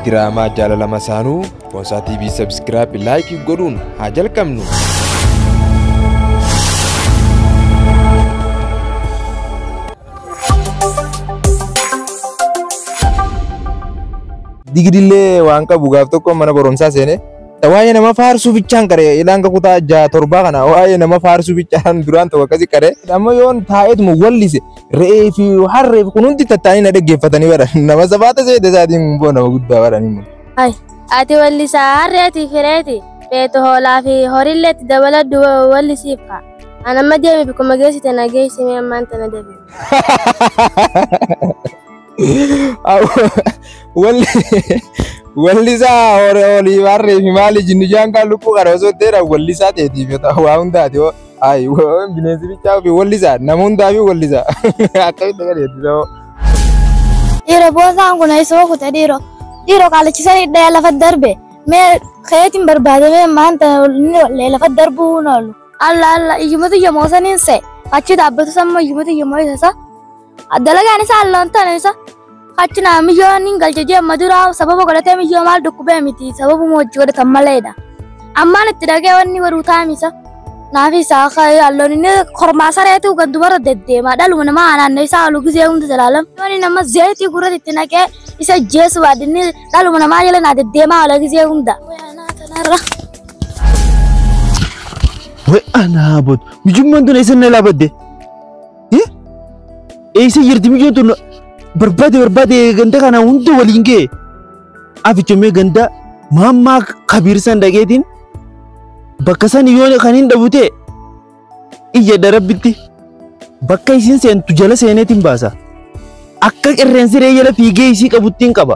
Diraamaa jaalala masaanuu Boonsaa TV Subscribe Like godhuun haa jalqabnu. digidillee waan qabu gaaf tokko mana barumsaa seene waa'ee nama faarsuu bichaan qare ilaan kutaa jaha torbaa kana waa'ee nama faarsuu bichaan duraan tokko akkasi qare amma yoon taa'eetuma wallise Re'ee fi harree fi kun hundi tattaanii na dhaggeeffatanii bara. Nama sabaata seete isaatiin boo nama guddaa bara ni mulu. Ati wallisaa harreetii fi reeti beetu hoolaa fi horiillee itti dabaladhu wallisiif kaa. An amma deemi bikkuma geessite na geessimee ammaan tana deebi'e. Wallisaa olii barree fi maali jinni jaan kaan lukkuu kana osoo ta'eera wallisaa ta'eetiif waa hundaati hoo. Ayi bineensi bichaa fi wallisaa nama hundaa fi wallisaa akkamitti gadi eebbisa hoo. Dhiira boosaan kun isoo kute dhiiro. Dhiiro qaalachisan hidhee lafa darbe. Mee keetiin barbaadamee maanta inni wallee lafa darbuu hin oolu. Alla alla iyyumatu yomoo saniin se. Achi dhaabbatu samma iyyumatu yomoo isa sa. Dalagaan isaa loontan isa achi naa miyyoon hin galche jee amma dura sababa godhatee miyyoo maal dhukkubee miti sababuma hojii godhatan maleedha. Ammaan itti dhagee wanni waruu taamisa. Naafi isaa akka halloon inni kormaa sareetu kan dubarra deddeema dhaluma namaa naannoo isaa halu gisee hunda jalaalam. Yooni nama zeetii gurratti itti naqee isa jeesu baadinni dhaluma namaa jala naa deddeemaa haala gisee hunda. Wai ana bot. Mijumman tun esan na labadde. Eessa jirti mijoon tun barbaade barbaade ganda kana hunda waliin ga'e. Afichomee ganda maammaa kabiir san dhageetiin bakka san yoo kan hin dhabu ta'e iyya darabbitti bakka isin seentu jala seeneetiin baasa. Akka qirreensi ree jala fiigee isii qabuttiin qaba.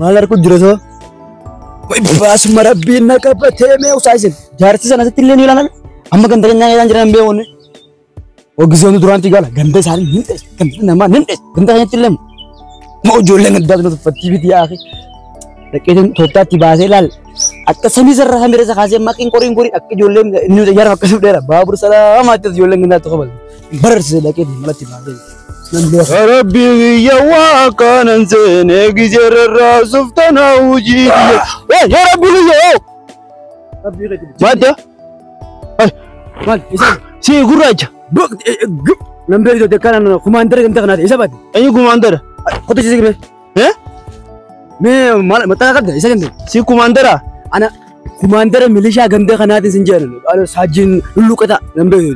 Maal argu jira too? Baasuma rabbiin na qabatee mee usaa isin. Jaarsi sana asitti illee ni ilaalan. Amma ganda keenyaa ilaalan jiran hin beekoonni. Ogisoon duraanti gala ganda isaanii ni dhees ganda namaa ni dhees ganda keenyatti illee ma ijoolleen addaa tuna tuffattii biti yaa akhi. Dhaqeetiin tooftaatti baasee ilaal. Akka samii sarara samii irra isa kaasee maqiin qoriin qorii akka ijoolleen inni yaara akkasii dheera baabur salaamaa itti ijoolleen gandaa tokko balu. Bararse dhaqee malatti baasee nan beeku. Rabbi biyya waa kanan seene gijerarraa suftana hojii biyya. Eh, yaa Rabbi biyya oo! Rabbii gadi. Madda, Maal isa si gurraacha. nan beeku jettee kana kumaan dargan ta'an isa baate. Eenyu gumaandara? Qotichi sigme. Eh? Mee maal maxxana qabda isa kenne. Si kumaandara. Ana kumaandara milishaa ganda kanaatiin sin jedhan. Ana saajjiin lulluqata nan beeku.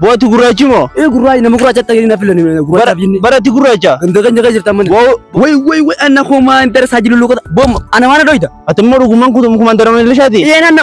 Booti gurraachi moo? Ee gurraachi nama gurraacha ta'e na filan gurraacha binne. Baratti gurraacha. Ganda keenya keessa jirtan mana. Woo Wai wai wai ana kumaandara saajjiin lulluqata. Boom ana waan dhoyta. ati immoo dhugumaan kutu kumaandara milishaati. Ee nan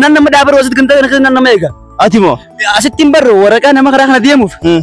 nan nama dhaabar wasit ganda kana keessa nan nama eega. Ati moo? Asittiin barre waraqaa nama karaa kana deemuuf. Hmm.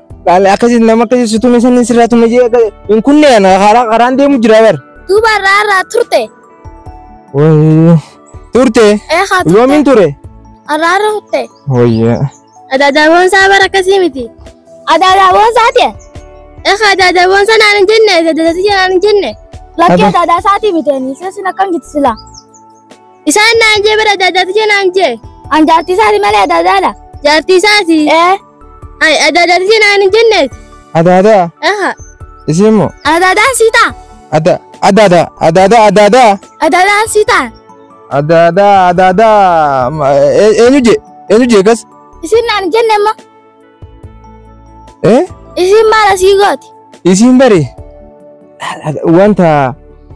Laale akkasi nama akkasi si tume sanin sirraa tume jee akka hin kunne ana karaa karaan deemu jira bar. Duuba irraa irraa turte. Wayii turte Ee haa turte. yoomiin ture. Irraa irra turte. Wayyaa. Adaadaaboon isaa bara akkasii miti. Adaadaaboon isaa ta'e. Ee haa adaadaaboon isaa naan hin jenne adaadaasii naan hin jenne. Lakkii Aba- adaadaa isaatii miti ani isa sin akkam gitti silaa. Isaan naan jee bira adaadaa tijee naan jee. An jaartii isaati malee adaadaadha. Jaartii isaati. Ee. Ay adaadaa tijee naan hin jenneet. Adaadaa. Aha. Isiin moo. Adaadaa sii ta'a. Ada adaadaa adaadaa adaadaa. Adaadaa sii ta'a. Adaadaa adaadaa eenyu jee eenyu jee kas. Isin naan hin jenne amma. Eh? Isiin maal asii gooti? Isiin bari wanta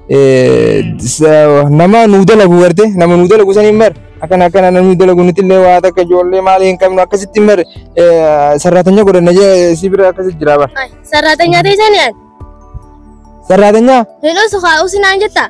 eh, sa- nama nuu dalagu garte nama nuu dalagu saniin bar akkana akkana namni dalagu nuti illee waa takka ijoollee maali hin qabnu akkasitti bar sarraatanya godhanna jee si bira akkasitti jira bar Sarraatanyaa teessanii ani. sarraatanya Hin usu haa usinaan jettaa?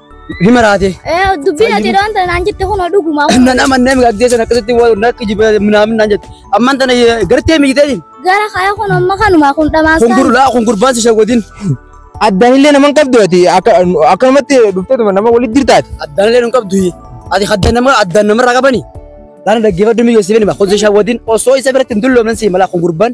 Hima raate. Eh, dubbiin ati yeroo wanta naan jette kun dhuguma. Nan amannee mi gaddee sana akkasitti waan na kijiba minaamin naan jette. Amman tana gartee mi jitee. Gara kaya kun amma kanuma kun dhamaasa. Kun gurlaa kun gurbaan si shagodin. Addaan illee naman qabdu ati akkanumatti dhufteetuma nama walitti jirtaati. Addaan illee nun qabdu ati addaan nama addaan namarraa qabani. Laana dhaggeeffadhu mi geessifani ma kun si shagodin osoo isa biratti hin dulloomnan si mala kun gurbaan.